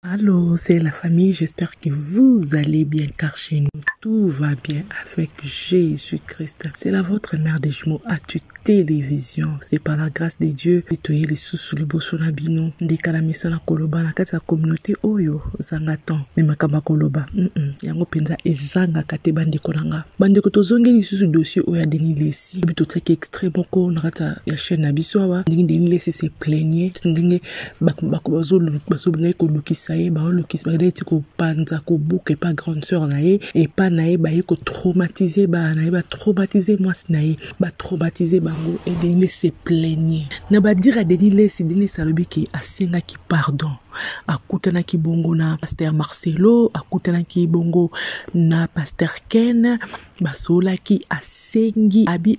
Allô, c'est la famille, j'espère que vous allez bien car chez nous tout va bien avec Jésus-Christ. C'est la votre mère des jumeaux à toute télévision. C'est par la grâce de Dieu que tu es les sous sous les bosso na bino. Ndeka la mesa na koloba na kati ya communauté oyo zanga temps. Mais makamba koloba. Mm -mm. Yango penza ezanga kate bande kolanga. Bande ko tozongi les sous dossier oyo ya Denis Lessi. Bito tsaki extrême ko na kati ya chaîne na biso awa. Ndenge Denis Lessi se plaignait. Ndenge bazobandaki kolukisa ye baolukisa bakendaki ti kopanza kobuka epa grande sœur na ye epa na ye baye kotraumatise bana na ye batraumatise mwasi na ye batraumatise bango e denis lesi eplaigne na badire ya denis lesi denis lesi alobi ke asengaki pardon akutanaki bongo na paster marcelo akutanaki bongo na paster ken basololaki asengi abi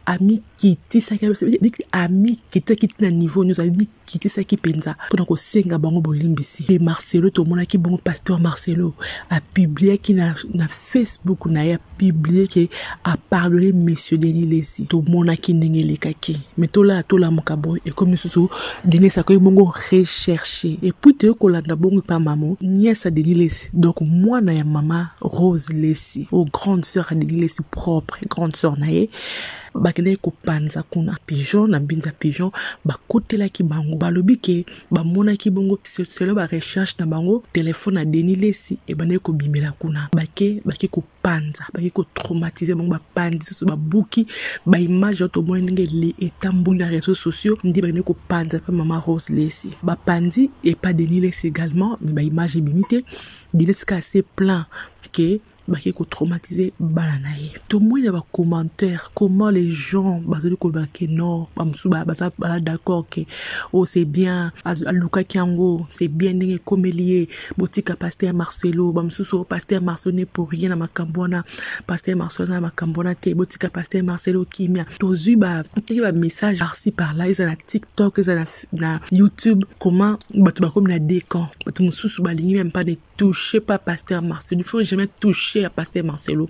amikitisaki amikitisaki ntina niveau nyonso amikitisaki mpenza mpona kosenga bango bolimbisi mpe marcelo tomonaki bongo pasteur marcelo apibliaki na, na facebook na ye apiblie ke apardone monsieur denis lesi tomonaki ndenge elekaki me tolaa tolamuka boye ekomi lisusu denis akoki bongo recherche epuis toye kolanda bongo epa mamo niesa denis lesi donc mwana ya mama Rose Lesi au grande sœur Adeline Lesi propre grande sœur na ye bakendaki kopanza kuna pigeon na mbinza pigeon bakotelaki bango balobi ke bamonaki bongo selo ba recherche na bango telefone ya Denis Lesi ebandaki kobimela kuna bake bake kopanza bake kotraumatize bango bapanzi soso babuki baimage oyo tomoni ndenge etamboli na réseaux sociaux nde bakendaki kopanza mpe mama Rose Lesi bapanzi epa Denis Lesi également me baimage ebimi te Denise ka se plaint que bake ko traumatiser bana na ye tomoni na bacommentaire comment les gens bazali koloba ke non bamosusu baza ba d'accord ke o oh, c'est bien alukaki yango c'est bien ndenge ekomeli ye botika paster marcelo bamosusu oh, paster marcelo ne pour rien na makambo wana paster marcelo aza na makambo wana te botika paster marcelo kimia tozwi bateki bamessage parci par là eza na tiktok eza na, na youtube comment bato bakomi na deux camps bato mosusu balingi meme pas ne touche pas pasteur marcelo il faut jamais touche ya pasteur marcelo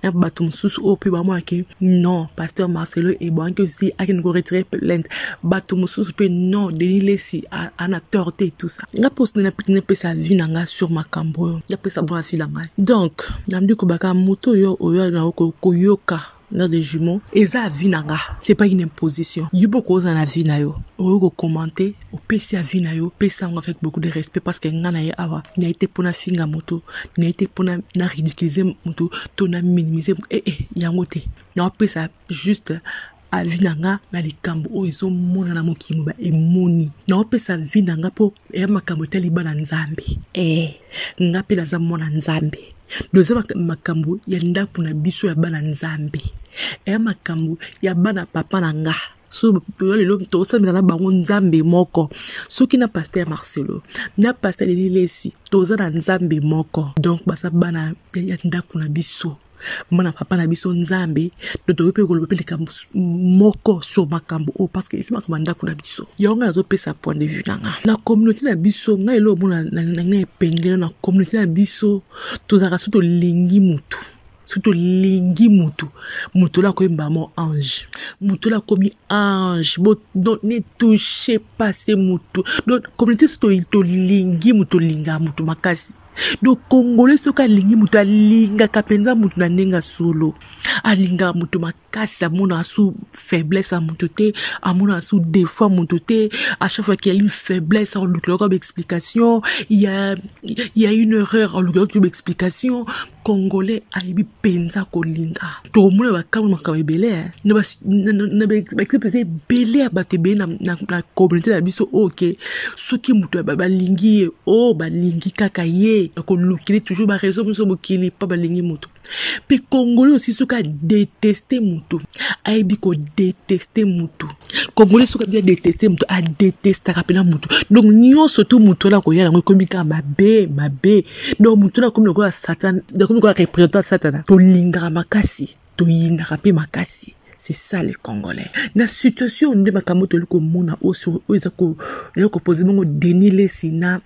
na bato mosusu oyo mpe bamonaki non pasteur marcelo ebwangaki osi akende koretire plainte bato mosusu mpe non denis lesi ana tort te tout ça nga mposi napesa vie na nga sur makambo oyo napesa mpo na vie na ngai donc namdi kobaka moto oyo oyo yango koyoka na de jumeaux eza avis na nga c'est pas une imposition yo mpe okozala na vie na yo oyo kokomante opesi avis na yo pesa yango avec beaucoup de respect parce que nga na ye awa naye te mpo nafinga moto naye te mpo na ridiculize moto to na minimise ee eh, eh, yango te naopesa juste avi na nga na likambo oyo ezomonana mokili moba emoni naopesa vi na nga mpo ya makambo etali bana nzambe ee eh, nga mpe naza mwana nzambe doza makambo ya ndako na biso ya bana nzambe ya makambo ya bana papa na nga so yo lelo tosambela na bango nzambe moko soki na paster marcelo na paster lenilesi toza na nzambe moko donc baza bana ya ndako na biso mwana papa na biso nzambe to toyoi mpe koloba mpe likambo moko sur makambo oyo parce que esi makambo ya ndako na biso yango ngai nazopesa point de vue na nga na communauté na biso ngai elo omona na ngai epengelo na communauté na biso tozalaka so tolingi motu soki tolingi motu motu oyo akoyemba mo ange motu oyo akomi ange don ne touche pase motu don communauté so tolingi motu tolingaa motu makasi donc congolais soki alingi moto alingaka mpenza moto na ndenge ya solo alingaka moto makasi amonaka su faiblesse ya moto te amonaka su défaut ya moto te à chaque fois qu'il y a une faiblesse alukilaka baexplication il y a une erreur alukilaka baexplication congolais ayebi mpenza kolinga tokomona bakamwe makambo ebele eh. na baexemple mpenza ebele ya bato ebele na communauté na biso oyo oh, ke soki moto balingi ye o oh, balingi kaka ye bakolukili toujours baraison nyonso mokili mpo balingi moto mpe congolais osi soki adeteste motu ayebi kodeteste motu congolais soki ayebi adeteste motu adetestaka mpena motu donc nyonso tu motu wana koya yango ekomi kaka mabe mabe donc motu na komi lokola satana nakomi lokola représentant satana tolingaka makasi toyinaka mpe makasi c'est ça les congolais na situation nde makambo toyeli komona oyo eza kopose bongo denis lesi na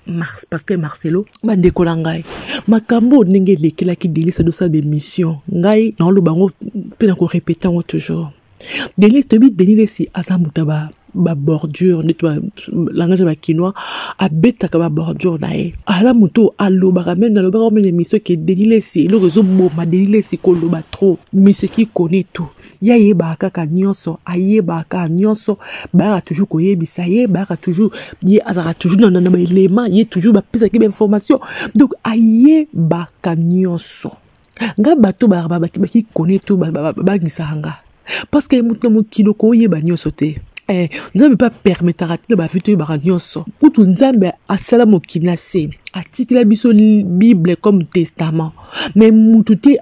pasteur marcelo bandeko na ngai makambo oyo ndenge elekelaki delisa dosala bemission ngai naoloba yango mpe nakorepete yango toujours Denis toyebi Denis Lessi aza moto ya ba ba bordure neti langage ya bakinois abetaka ba bordure na ye aza moto oyo alobaka meme nalobaka meme na émission ke Denis Lessi eloko ezoboma Denis Lessi koloba trop monsieur qui connaît tout ye ayebaka kaka nyonso ayebaka kaka nyonso bayaka toujours koyebisa ye bayaka toujours ye azalaka toujours na, na, na baelema ye toujours bapesaki bainformation donc ayebaka nyonso nga bato baki kone to babangisaka nga parce que moto na mokili okoyeba nyonso te eh, nzambe mpe apermetaka tina bavi toyebaka nyonso kutu nzambe asala mokili na se atikela biso bible comme testament mais mutu te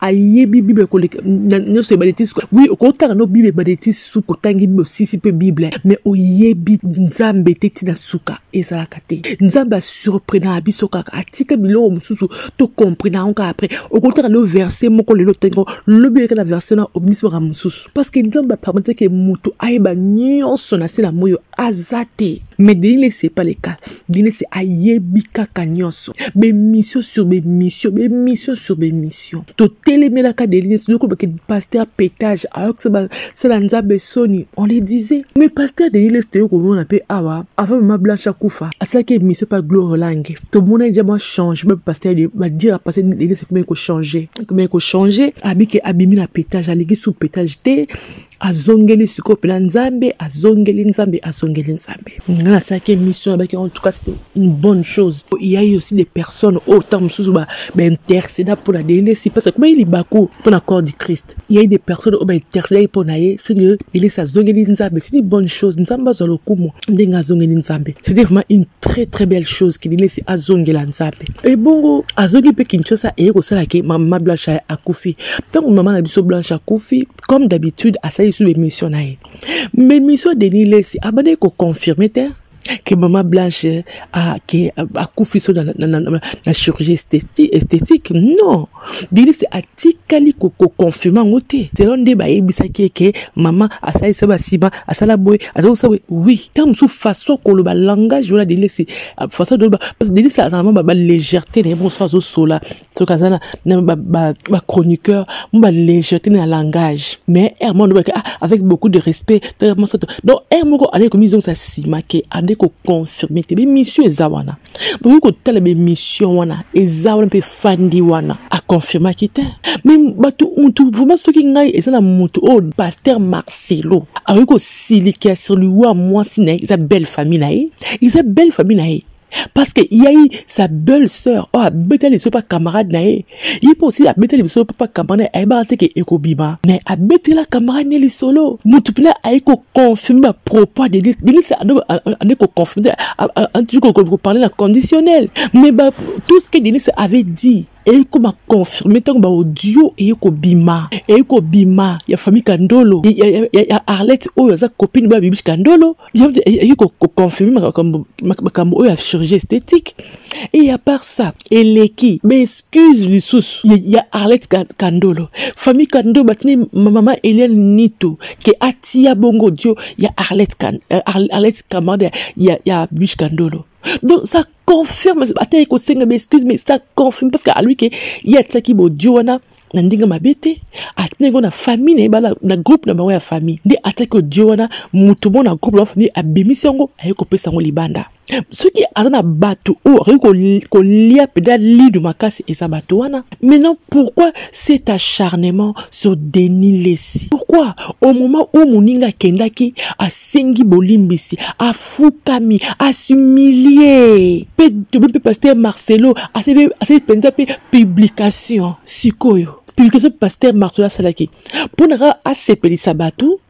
ayebi bible koleka nyonso ebale ti suka wi okotanga no bible ebale ti suka otangi bible osisi mpe bible mais oyebi nzambe te ntina suka ezalaka te nzambe asurprenaka biso kaka atika biloko mosusu tokomprenaka yango kaka après okotaka lelo verse moko lelo tengo lobi oyeka na verse na obimisi makambo mosusu parce que nzambe apermete ke moto ayeba nyonso na se na moi oyo aza te mais denile c'est pas le cas denile c'est ayebi kaka nyonso bemission sur bemission bemission sur bemission totelemelaka denile soki olobaki pasteur petage ayokisa sala nzambe soni on le disait mais pasteur denis lesi toyei komona mpe awa avant mama blanche akufa asalaki émission mpe gloire lange tomonaki deja mwa changement mpe pasteur badira pasteur denis lesi ekomaki kochange ekomaki kochange abike abimi na petage aleki sous petage te azongeli sikoyo mpena nzambe azongeli nzambe azongeli nzambe nga nasalaki émission abaki en tout cas c'était une bonne chose il y a eu aussi des personnes oyo oh, ntango mosusu bainterceda mpo na denis lesi parce que ekomaki libaku mpo na corps du christ Il y a des personnes oyo baintercede ye mpo na ye ce que elesi azongeli nzambe c'est une bonne chose nzambe azwa lokumu ndenge azongeli nzambe c'était vraiment une très très belle chose ke lilesi azongela nzambe ebongo azongi mpe kinshasa eye kosala ke mama blanche aye akufi ntango mama na biso blanche akufi comme d'habitude asali lisusu bemission na ye mais mission denis lesi abandaki koconfirme te que maman Blanche a, que, a Koufiso na, na, na, na, na chirurgie esthétique, esthétique. Non. Denise a tikali ko, ko confirmer en côté. C'est l'un des baïs bisaki que maman a sa sa ba siba, a sa la boy, a sa sa oui. Tant sous façon que le ba langage ou la Denise, façon de parce que Denise a vraiment ba légèreté, les bons sois au sola. soki aza na bachroniqueur ba, ba mo balégèreté na langage mais r moko nobaki ah, avec beaucoup de respect mosato donc r moko andeki komizongisa nsima ke andeki koconfirme te bemission eza wana bokoki kotala bemission wana eza wana mpe efandi wana aconfirmaki te mais bato motu vraiment soki ngai eza na motu oyo oh, paster marcelo akoki kosilikia sur liwa mwasi na ye eza belle famille na ye eza belle famille na ye parce que ya ye sa belle sœur oyo oh, abetali biso mpa camarade na ye ye mpe osi abetali biso mpa camarade ayebaka te ke ekobima mais abetela camarade ne lisolo motu mpena aye koconfirme bapropos denis denis ande koconfirme toujours koparle na conditionnel mais tout ce que denis avait dit eye koma confirme ntango baaudio eye kobima eye kobima ya famille kandolo ya, ya, ya, ya arlette oyo aza copine ba bibiche kandolo eye koconfirme makambo oyo ya chirurgie esthétique et à part ça eleki baexcuse lisusu ya, ya arlette kandolo famille kandolo batini mama eliane nitu ke atia bongo audio ya arlette, kan, euh, arlette camarade ya, ya, ya bibiche kandolo donc ça confirme ata ye kosenga ba excuse mais ça confirme parce que alobi ke ye atiaki bodio wana na ndenge mabe te atindaki ngo na famille na ye bala na groupe na bango ya famille nde atiaki odio wana moto moko na groupe na famille abimisi yango aye kopesa yango libanda soki aza na bato oyo akoki kolia mpenza lido makasi eza bato wana Maintenant, pourquoi cet acharnement sur Denis Lessi Pourquoi au moment où Moninga Kendaki a sengi bolimbisi, a fukami, a s'humilier, pe pe pasteur Marcelo a fait a fait pe publication sikoyo. Publication pasteur Marcelo asalaki mpo na asepelisa bato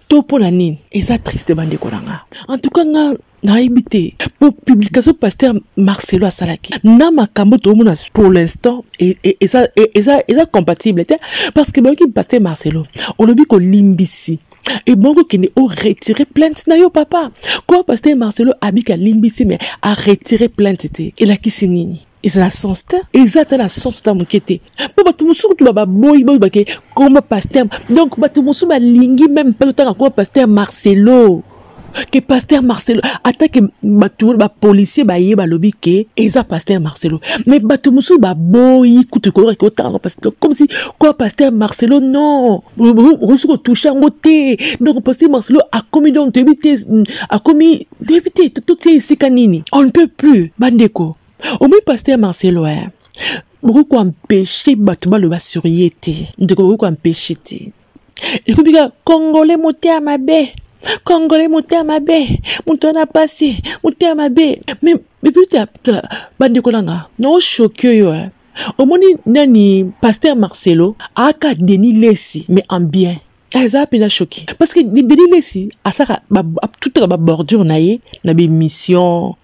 to mpo na nini eza triste bandeko na nga en tout cas nga nayebi te po publication pasteur marcelo asalaki na makambo toomona pour l'instant e, e, eza e, eza eza compatible te parce que bayoki pasteur marcelo olobi kolimbisi ebongo kende o retire plainte na yo papa koma pasteur marcelo abiki alimbisi me a retire plainte te elakisi nini eza na sens te eza ata na sens ata moke te mpo bato mosusu kutu bababoyi boyi bake komba paster donc bato mosusu balingi meme mpe totanga komba paster marcelo ke paster marcelo ata ke bato wana bapolisier baye balobi ke eza paster marcelo mais bato mosusu baboyi kutu koyoka ke otanga comme si kwa paster marcelo non okoki soki otouche yango te donc pasteur marcelo akomi donc toyebi te mm, akomi toyebi te totie esika nini on ne peut plus bandeko omoi pasteur marcelo e bokoki koempeshe bato baloba sur ye te ndeko bokoki koempeshe te ekomi kaka congolais motema mabe congolais motema mabe moto wana mpasi motema mabe mais eputa bandeko nanga naoshoki oyo eh. omoni nani pasteur marcelo aka deni lesi mais en bien ah, eza mpenza shoki parce que deni lesi asaka atutaka babordure na ye na bemission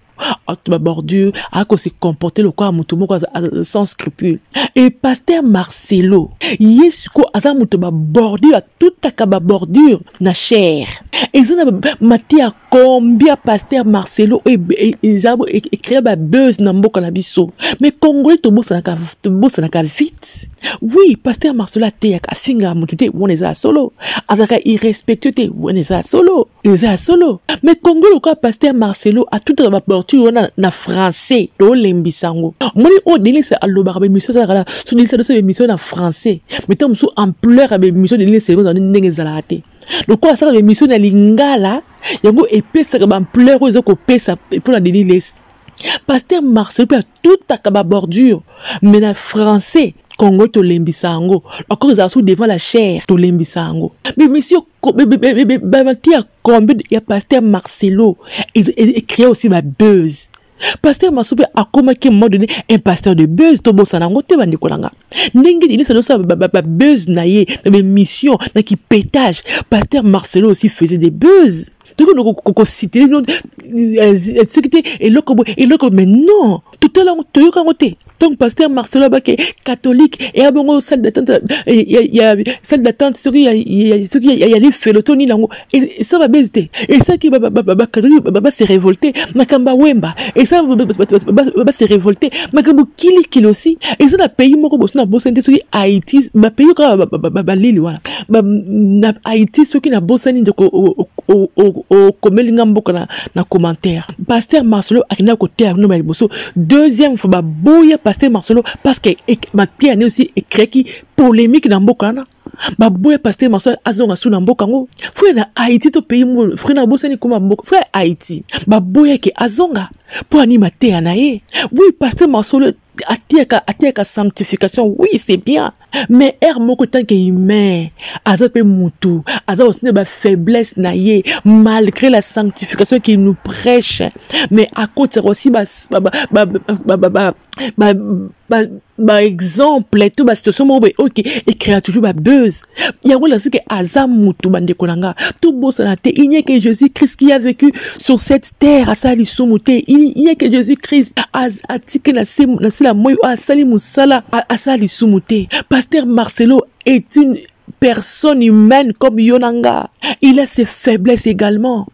babordure ako se comporte lokola moto moko sans scrupule e paster marcelo ye sikoyo aza moto babordure atutaka babordure na chere eza na matière combien pasteur marcelo oyo eza ecrea babuse na mboka na biso mais congolais tobosanaka vite oui pasteur marcelo ateyaka afingaka moto te wana eza ya solo azalaka irrespectueux te wana eza ya solo eza ya solo mais congo lokola pasteur marcelo atutaka baporture wana na français tolembisa yango omoni oyo denise alobaka bemission ezalaka na so denise adosala bemission na français mais ntango mosusu ampleur ya bemission denise ezalaka ndenge ezalaka te lokola asalaka baemission na lingala yango epesaka baampleur oyo eza kopesa mpo na denis lesi paster marcel mpe atutaka babordure mais na français congo tolembisa yango encore ezala sous devant la chaire tolembisa yango bemisi bamati ya combe ya paster marcelo ecree aussi babuse pasteur masupe akomaki un moment donné un pasteur de buzz tobosana yango te bandeko na nga ndenge denise azosala babuzz na ye na baémission na kipetage pasteur marcelo aussi faisait des buzz tokoki kositele bino soki te eloko boye eloko mais non totala yango toyoka yango te donc pasteur marcelo abake catholique eya bongo salle d'attente salle d'attente soki soki ya lifelo to nini yango esa babezi te esaki base révolte makambo ya wemba esa base révolte makambo kilikili osi eza na pays moko boso na bosani te soki haïti bapays kaka baleli wana na haïti soki na bosani ndeko okomeli nga mboka na commentaire pasteur marcelo akendaki koteya bino bala liboso deuxième fois baboya pasteur marcelo parce que mateya ne osi ecreaki polémique na mboka wana baboya pasteur marcelo azonga su na mboka yango frère na haïti to pays moko frère na bosani koma mboka frère haïti baboyaki azonga mpo ani mateya na ye oui pasteur marcelo atiaka atiaka sanctification oui c'est bien mais heure moko tanke humain aza mpe mutu aza aussi na bafaiblesse na ye malgré la sanctification qui nous prêche mais akotisaka aussi baexemple to basituation moko boye oke ecrea toujours babeuse yango elakisi ke aza mutu bandeko na nga tobosana te il n'y que jésus christ qui a vécu sur cette terre asala lisumu te il n'y que jésus christ atiki na se la moi oyo asali mosala asala lisumu te pasteur marcelo est une personne humaine comme yo na nga il a ses faiblesses également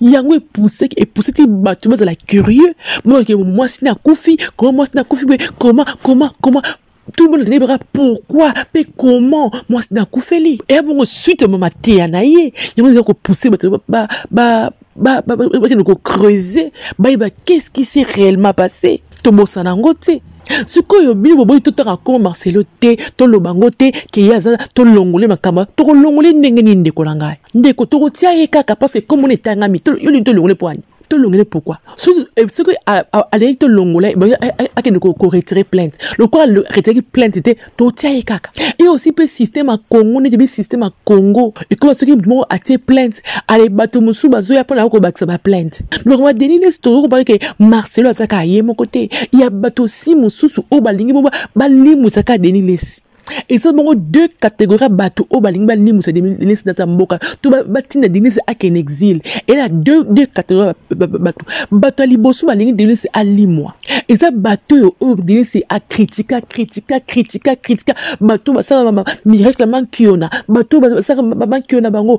yango epusaki epusaki bato bazala curieux monake mwasi na akufi koma mwasi na akufi boye koma koma koma tout le monde alingi baka pourquoi mpe comment mwasi na akufeli eya bongo suite ya mateya na ye yango ezali kopousse bato bakende kocreuse bayeba qu'est ce qui s'est réellement passé tobosana yango te sikoyo bino boboyi totaka koma marcelo te toloba yango te keye aza tolongole makambo tokolongole ndenge nini ndeko na ngai ndeko tokotia ye kaka parceke komona etangami yo lingi tolongole mpo ani tolongele pourquoi soki eh, alingaki tolongola eh, akende koretire plainte lokola retiraki plainte te totia ye kaka ye osi mpe systeme ya congo neti bi systeme ya congo ekola soki moto moko atie plainte ale bato mosusu bazoya mpo na yo kobakisa baplainte biloko ba denis nesi tokoki kobaki ke marcelo aza kaka ye moko te ya bato osi mosusu oyo balingi bo balimwisa kaka denis lesi eza bongo deux catégorie ya bato oyo balingi balimwisa denise data mboka to batinda denise akende exile ena deux, deux catégorie bato bato ya liboso balingi denise alimwa eza bato oyo oyo denise akritika kritika kritika kritika bato oyo basalaka miracle mankiona bato oyo basalaka mankiona bango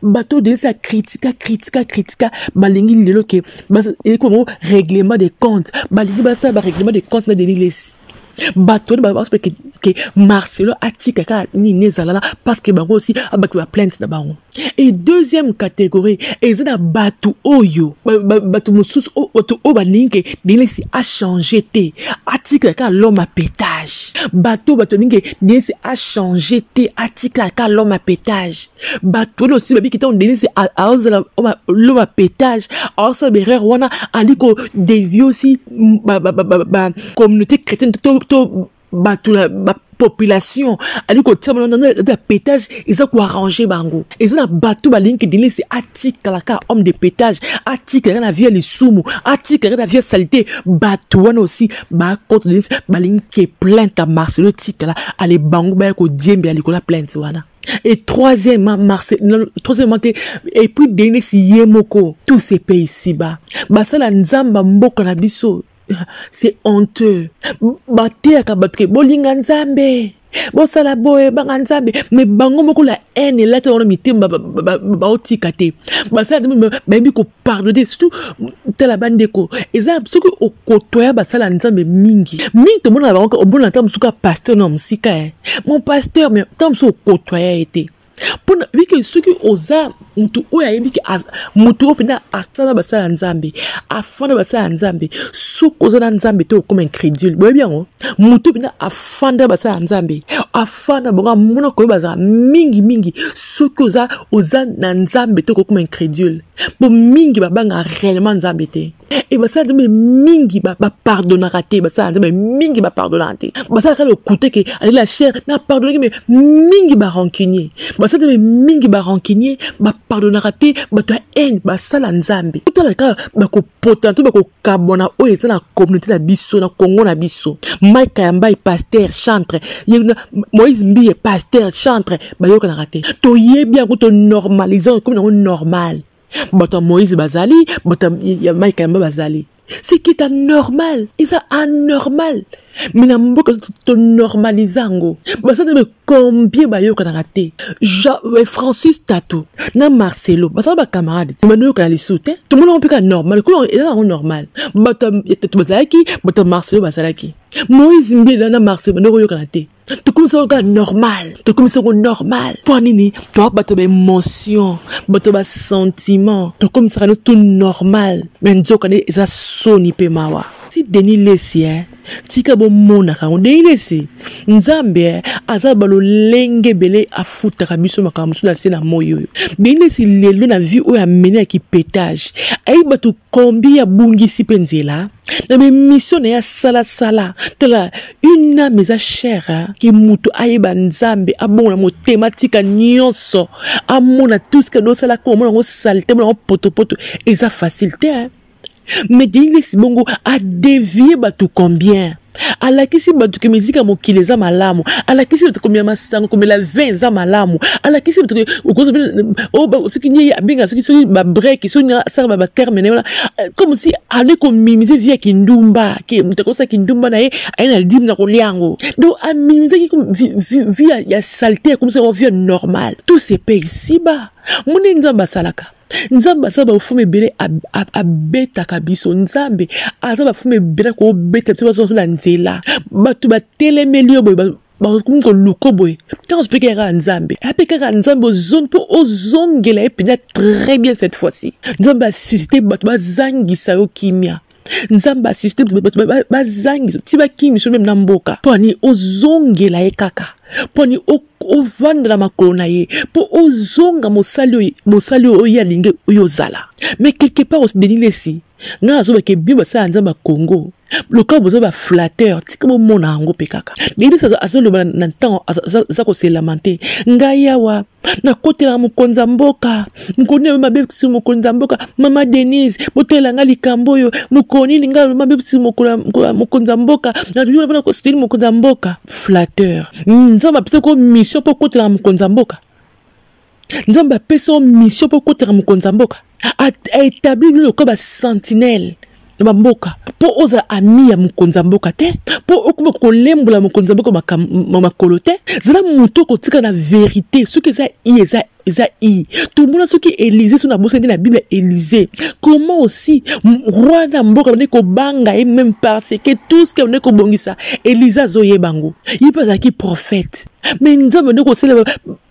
bato oyo denise akritika kritika kritika balingi lelo ke eleki bango règlement de compte balingi basala barèglement de compte na denilesi bato wana babaso mpe ke marcelo atika kaka nini ezalala parce que bango osi abakisa baplainte na bango e deuxième catégorie eza na bato oyo bato mosusu bato oyo balingi ke denesi achange te atika kaka lome apetage bato oyo bato balingi ke denesi achange te atika kaka lome apetage bato wana osi babiki ntango denesi aozala lome apetage aosala berere wana ali ko devie osi ba, ba, ba, ba, ba communauté chrétienne to, to bato na bapopulation ali kotia bango ya petage eza koarrange bango eza na bato balingi kidenesi atikala kaka homme de petage atikala kaka na vie ya lisumu atikala kaka na vie ya salite bato wana osi bakota denesi balingi ke plainte ya marcelo etikala ale bango baya kodiembela likolo ya plainte wana et troisièmement marse troisièmement te et puis denis ye moko tout se paye ici bas basala nzambe mboka na biso c'est honteux bateyaka bato ke bolinga nzambe bosala boye banga nzambe me bango moko la haine elati bango na mitema baotika te basala bayebi pardon te surtout tala bandeko eza soki okotoya basala ya nzambe mingi mingi tomonaka bango omona ntango mosusu ka pasteur na mosika e mon pasteur mais ntango mosusu okotoya ye te mpona bike soki oza motu oyo ayebi ke motu oyo mpenza atana basala ya nzambe afanda basala ya nzambe soki oza na nzambe te okoma incrédule boyebi yango motu oyo mpenza afanda basala ya nzambe fanda bango amona koyeba azala mingi mingi soki oza oza na nzambe te okokoma incrédule mpo mingi babanga réellement nzambe te e basala nzambe mingi bapardonaka te basala nzambe mingi bapardonaka te basalaka lokute ke ale la chair na pardonaki me mingi barancunier basala nzambe mingi barancunier bapardonaka te bato ya haine basala nzambe otalaka bakopota to kabwana oyo eza na communauté na biso na congo na biso mike kayambai pasteur chantre moïse mbiye pasteur chantre bayokanaka te toyebi yango tonormalize yango ekomi nango normal bato ya moïse bazali bato ya mike kayamba bazali ce qui est anormal eza anormal me na mboka tonormalize yango basala combien bayokanaka te euh, francis tato na marcelo bazala bacamarade nsima noyokana lisusu te tomona yango mpe kaka normal lokola eza yango normal bato ya tato bazalaki bato ya marcelo bazalaki moïse mbila na marcelo bande koyokana te tokomisa yango kaka normal tokomisa yango normal mpo nini toa bato baémotion bato basentiment tokomisaka nyonso to normal me nzokande eza soni mpe mawa si denis lesi eh? tika bomonaka yango ndenge nesi nzambe eh, aza balolenge ebele afutaka biso makambo mosusu na se na moi oyo ndenge nesi lelo na vie oyo amene ya kipetage ayebi bato kombi abungisi mpe nzela na bemission na ye asalasala tala une ame eza chere eh, ke moto ayeba nzambe abongo na motema tika nyonso amona tuske dosala ko omona yango salite omona yango potopoto eza facile te eh. mais denis bongo adevie bato combien alakisi bato ke miziki ya mokili eza malamu alakisi bato komela masanga komela vin eza malamu alakisi bato oh, soki nie abenga soki soki babreki soki asala baterme na ye wana euh, comme si ale komimise vie ya kindumba ke moto akosa kindumba na ye aye na dime na kolia yango donc amimisaki vie ya salte akomisa yango vie normale tout se paye ici ba mone nzambe asalaka nzambe aza bafumu ebele abetaka biso nzambe aza bafumu ebele kobeta biso bazozo na nzela bato batelemeli yo boye bakomi koluka boye ntango azopeka ya kaka nzambe ape kaka nzambe ozongi mpo ozongela ye mpenza très bien cette fois-ci nzambe asusite bato bazangisa yo kimia nzambe asiste bazangi ti bakimi so meme na mboka mpo ani ozongela ye kaka mpo ani ovandela makolo na ye mpo ozonga mosali mosali oyo ye alingi oyo ozala mais quelque part osideni lesi ngai nazobake bino basala nzambe ya congo lokola boza baflateur tika bomona yango mpe kaka lelisi azoloba na ntango aza koselama te ngai awa nakotelaka mokonzi ya mboka mokoni oyo mabe bisu mokonzi ya mboka mama denise botelela nga likambo oyo mokoni linga mabe bisu mokonzi ya mboka nayoana kosuteli mokonzi ya mboka flatteur nzambe apesa ko mission mpo okotelaka mokonzi ya mboka nzambe apesa o mission mpo okotelaka mokonzi ya mboka aétabli bino lokola basentinelle na bamboka mpo ozala ami ya mokonzi ya mboka te mpo okoma kolembola mokonzi ya mboka makolo te zala moto okotika na verité soki eza i eza eza i tomona soki elize soki nabosani na bible elize comment aussi roi na mboka abandaki kobanga ye meme parce que tout ce que abandaki kobongisa elize azoyeba yango ye mpe azalaki prophète mais nzambe abandaki kosalela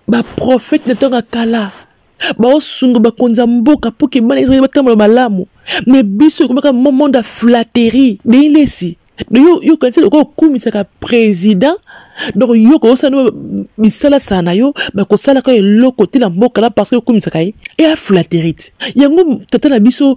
baprophète na ntango ya kala baosunga bakonzi ya mboka mpo ke bana israele batambola malamu me biso ekomaka monde ya flatterie deilesi yo yo kanisa lokola okumisaka président donc yo kosala bisalasala na yo bakosalaka eloko te na mboka la parce que okumisaka ye eya flatterie te yango tata na biso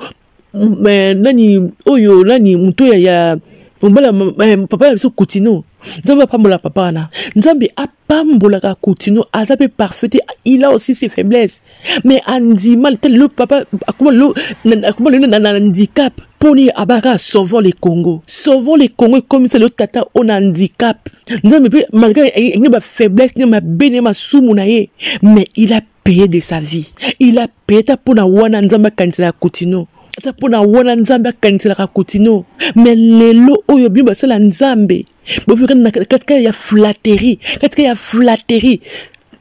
nani oyo nani moto ya, ya mobala eh, papa na biso kutino nzambe apambola papa wana nzambe apambolaka kutino aza mpe parfaite il a aussi ses faiblesses mais andima le papa akoma lelo na handicap mpo nini abaka sauvons le congo sauvons le congo ekomisa lelo tata oyo na handicap nzambe mpe malgré ne bafaiblesse ne mabe ne masumu na ye mais il a paye de sa vie il a paye ta mpo na wana nzambe akanisela ya kutino ata mpo na wana nzambe akaniselaka kutino me lelo oyo bino basala nzambe bofika na katika ya flatterie katika ya flatterie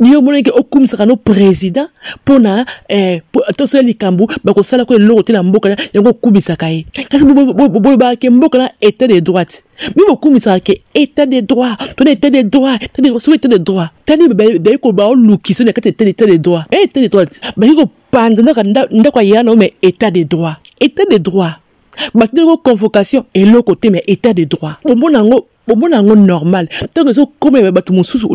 yo omonaki okumisaka no président mpo na eh, tosala likambo bakosala ko eloko te na mboka yango okumisaka ye kasi boyebaka mboka na état de droite mpe bokumisaka ke etat de droit tona etat de droit etat de droit soki etat de droit tani baye koloba olukisa na kati ya etat de droit e etat de droit baye kopanza ndako ndako ya yana ome etat de droit etat de droit bato ndeko convocation eloko te mais etat de droit bomona yango bomona yango normal ntango ezokomela bato mosusu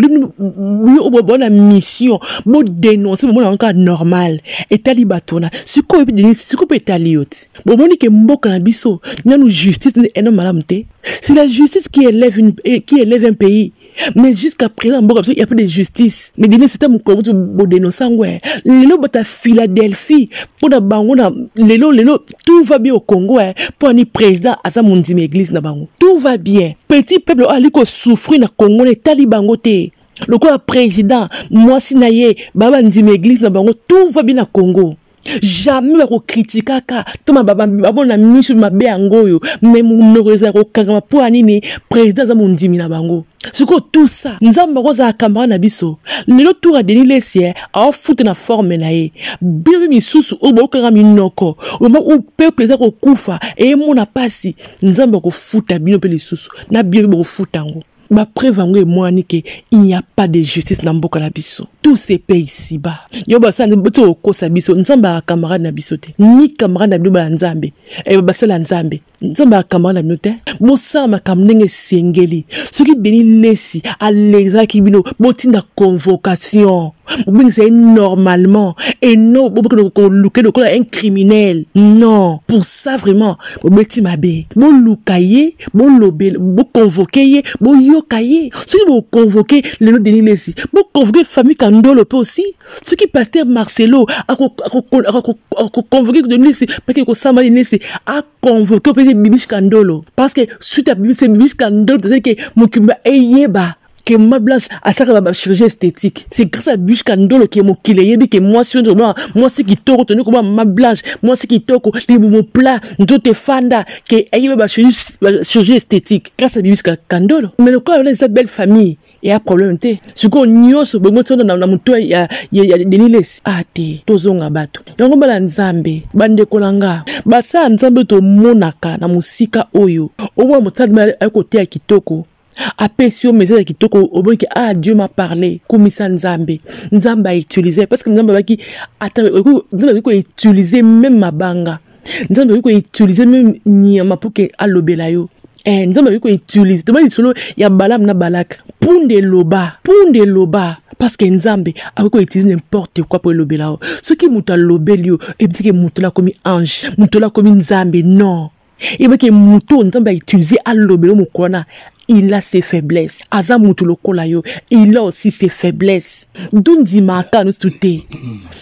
bona mission bodenonce bomona yango kaka normal etali bato wana sikoyo mpe etali yo ti bomoni ke mboka na biso nanu justice nde eno malamu te c'est la justice qui élève, une, eh, qui élève un pays mais jusqu'à présent mboka biso ya pas de justice mais dine sita mokolo kutu bodenonse yango eh. lelo bata philadelphie mpo na bango na lelo lelo tout va bien au congo eh. mpo ani président aza mondimi église na bango tout va bien petit peuple oyo ali kosouffrir na congo na etali bango te lokola président mwasi na ye baba ndimi église na bango tout va bien na congo jamais bakokritikaka to bamona miso mabe yango oyo me monoko ezala kokangama mpo ya nini président aza mondimi na bango sikoyo tout ça nzambe akozala kamara na biso lelo tour ya denis lesie aofuta na forme na ye bino mpe misusu oyo baokanga minoko oyo peuple eza kokufa eyemona mpasi nzambe akofuta bino mpe lisusu na bino mpe bokofuta yango ba preuve yango emwani ke il n'y a pas de justice na mboka na biso tout se paye ici bas yo basala boti okosa biso nzambe aka camarade na biso te ni camarade na bino baya nzambe eh, basala nzambe nzambe aka camarade na bino te bosala makambo ndenge esengeli soki denis lesi alezaki bino botinda convocation obengisa ye normalement et non bobokende koluke lokola un criminel non pour ça vraiment bobeti mabe boluka ye bolobe boconvoke ye boyoka ye soki boconvoke lelo denis lesi boconvoke famille kandolo mpe aussi soki paster marcelo akoconvoke denis lesi pake kosamba denis lesi aconvoke mpe bibish kandolo parce que suite ya bibish kandolo tozali ke mokimba eyeba que ma blanche asakaka ba chirurgie esthétique c'est grâce à blanche kandolo ke mokili eyebi ke mwasi oyo tobaa mwasi kitoko toni koba ma blanche mwasi kitoko libumu plat nzoto efanda ke ayebi ba chirurgie esthétique grâce à blanche kandolo mais lokola wana eza belle famille eya problème te sikoyo nyonso bongo ti wana na moto ya denilesi a ah, te tozonga bato yango bana nzambe bandeko na nga basala nzambe tomonaka na mosika oyo omona mosala aye koteya kitoko apesi yo message ya kitoko oboyike ah dieu m'a parlé kumisa nzambe nzambe autilize parce que nzambe abaki ata nzambe akoki koutilize meme mabanga nzambe akoki koutilize meme nyama mpo ke alobela yo eh, nzambe akoki koutilize toba lisolo ya balamu na balaka mpunda eloba mpunda eloba parce que nzambe akoki koutilize n'importe quoi mpo elobela yo soki moto alobeli yo ebitike moto lakomi ange moto lakomi nzambe non yeba ke moto oyo nzambe autilize alobela mokolo wana il a ses faiblesses aza moto lokola yo il a aussi ses faiblesses tondimaka nyonso te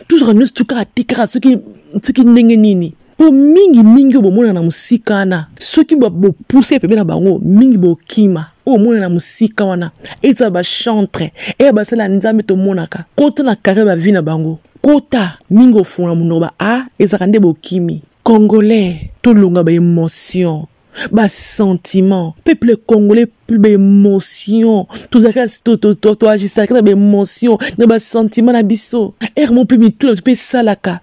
tozwaka nyonso to kaka te kaka soki ndenge nini mpo mingi mingi oyo bomona na mosika wana soki bopuse pembe na bango mingi bokima oyo omona na mosika wana ezala bachantre eya basala ya nzambe tomonaka kota na kare bavi na bango kota mingi ofungola monoko ba a ah, ezalaka nde bokimi Congolais, tolonga ba emotions. ba sentiment peuple congolais plus ba émotion tozalaka toagisaka na ba émotion na ba sentiment na biso ere mo mpe mitu na biso mpe esalaka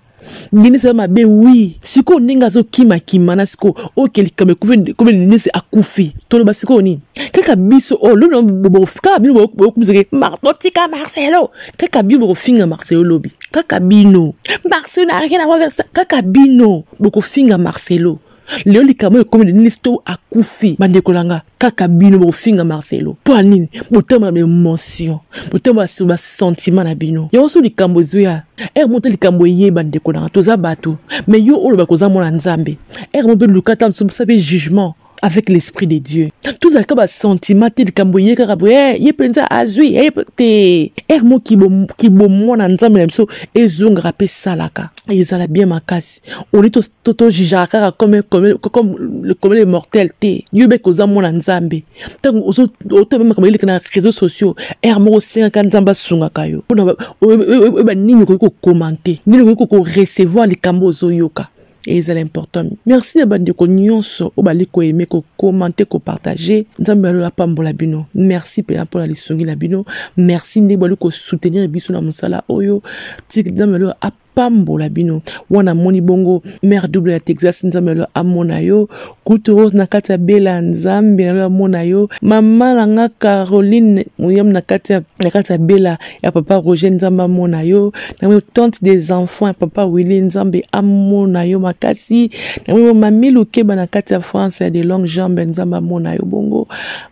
denise aza mabe wi sikoyo ndenge azokimakima na sikoyo oke likambo ekomi denise akufi toloba sikoyo nini kaka biso oyo oh, lobi kaka bino boyokumisake marto tika marcelo kaka bino bokofinga marcelo lobi kaka bino marcelo na rien avoir versa kaka bino bokofinga marcelo lelo likambo oyo ekomi nini to akufi bandeko na nga kaka bino bokofinga marcelo mpo ya nini botambola na emotion botambola sur basentiment na bino yango so likambo ezoya ere moko te likambo eye bandeko na nga toza bato me yo oloba koza mwana nzambe ere moko mpe luka ta mosusu mpe jugement avec l'esprit de dieu tozalaka basentiment te likambo eye kaka boye eh, ye mpenza azwi eh, te ere mo kibomwana nzambe na biso ezongaka mpe esalaka ezala bien makasi oli tojijaka kaka comme le mortel te yo beke oza mwana nzambe ntango otobe makambo eleka na réseau sociaux ere moko osengaka nzambe asungaka yo mpona oyeba nini okoki kokomante nini okoki korecevoir likambo ozoyoka ezala important merci na bandeko nyonso oyo bali koyeme kokomante kopartage nzambe alola apambola bino merci mpenza mpo na lisungi na bino merci ndenge bali kosoutenir biso na mosala oyo tiki nzambe alola apambola bino wana amoni bongo mare double ya texas nzambe alola amona yo Kutu Rose na kati ya Bella Nzambe na lola mona yo mama na nga Caroline moyam na kati ya na kati ya Bella ya papa Roger Nzambe amona yo na mwe tante des enfants ya papa Willy Nzambe amona yo makasi na mwe mami Lukeba na kati ya France ya de longue jambe Nzambe amona yo bongo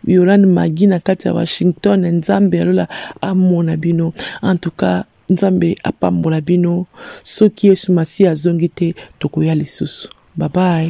Yolande Magi na kati ya Washington Nzambe ya lola amona bino en tout cas Nzambe apambola bino soki Yesu Masiya azongi te tokoya lisusu bye bye